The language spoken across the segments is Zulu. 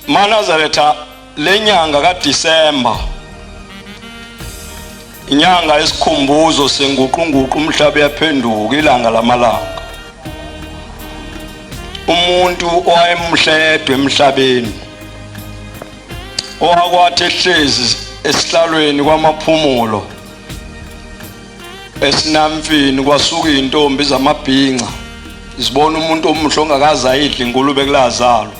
Manazaretha lenyanga kaDisemba inyanga isikhumbuzo senguqunguqu umhlaba yaphenduka ilanga lamalanga umuntu owayemhledwe emhlabeni owakwathi ehlezi esihlalweni kwamaphumulo esinamfini kwasuka izintombi zamabhinca zibona umuntu omuhle ongakaze ayidle ingulube kulazalo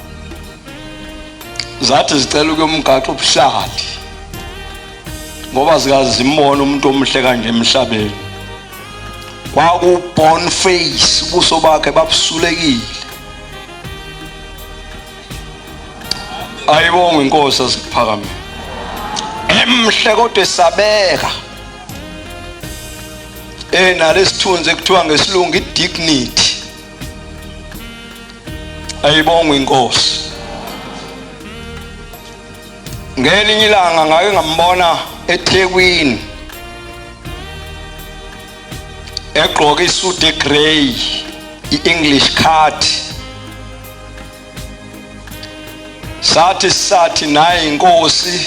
zathi zicela ukuyomgaxa ubuhlali ngoba zikazimbona umuntu omuhle kanje emhlabeni kwakuborn face ubuso bakhe babusulekile ayibonge inkosi asikuphakamile emhle kodwa esabeka eh nalesithunzi ekuthiwa ngesilungu idignity ayibongwe inkosi ngelinye ilanga ngake ngambona eThekwini egqoke isuit egrey iEnglish card sathi sathi naye inkosi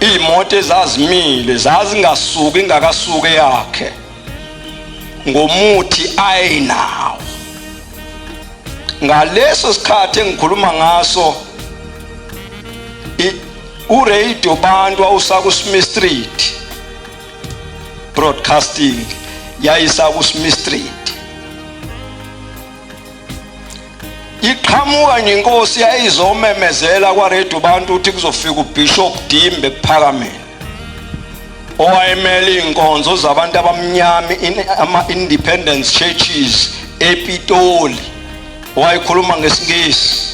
iy'moto ezazimile zazingasuki ingakasuke yakhe ngomuthi ayinawo ngaleso sikhathi engikhuluma ngaso uradio bantu wawusakusmi street broadcasting yayisakusmi street iqhamuka nje inkosi yayizomemezela kwaredio abantu ukuthi kuzofika ubishop dimbe kuphakameni owayemele iy'nkonzo zabantu abamnyama ama-independence churches epitoli wayekhuluma ngesingisi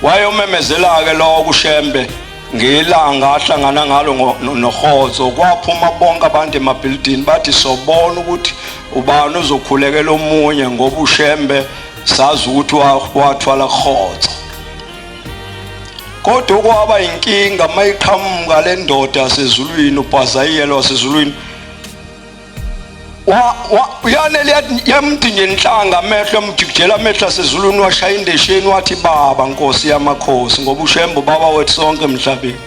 Wayomemezela-ke lowo kuShembe ngelanga ahlangana ngalo nohozo kwaphuma bonke abantu emabhilidini bathi sobona ukuthi ubani uzokhulekela omunye ngoba uShembe sazi ukuthi wathwala hozo kodwa okwaba inkinga mayiqhamuka le ndoda yasezulwini ubhazayiyelo wasezulwini uyanele yamdinga inhlanga amehlo amjikijela amehlo asezulwini washaya indesheni wathi baba nkosi yamakhosi ngoba ushembo baba wethu sonke emhlabeni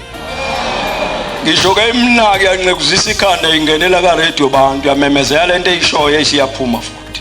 ngisho ke imnaki yanqekuzisa ikhanda ingenela ka radio bantu yamemezela lento eyishoyo esiyaphuma futhi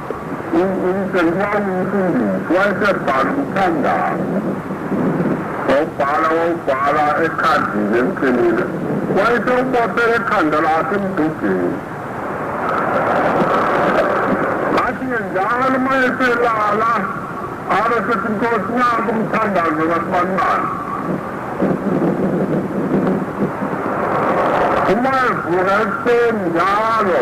Umsengimani umfundisi wayesebhala umthandazo wawubhala wawubhala ekhadini emqinile wayesewubosela ekhanda lakhe emdudini athi-ke njalo uma eselala abe sethi nkosi nanku umthandazo kasibanibani uma evuka ekuseni njalo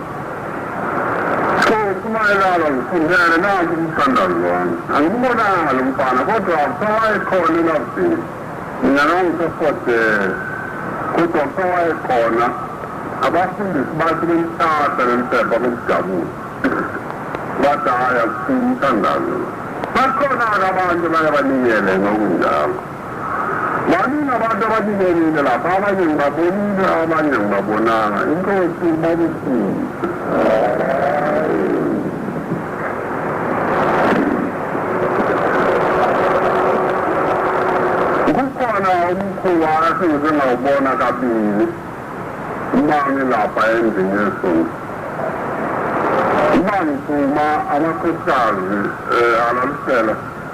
So kumayelana ngifundele nangu umthandazi wami. Angibonanga lo mfana kodwa kusawayekhona elabdini. Mina nangisefodele kodwa kusawayekhona abafundisi bathi bemthatha bemphepha bemjabula. Bathi hhayi akusiyi umthandazo. Bakhona-ke abantu baye banikele ngokunjalo. Baningi abantu abakubonile lapha, abanye ngibabonile, abanye ngibabonanga. Inkosi ibabusise. Kukhona umkhuba esingize ngawubona kabili uma ngilapha endlini yesonto. Uma ngiphuma amakhosikazi eh, alalisela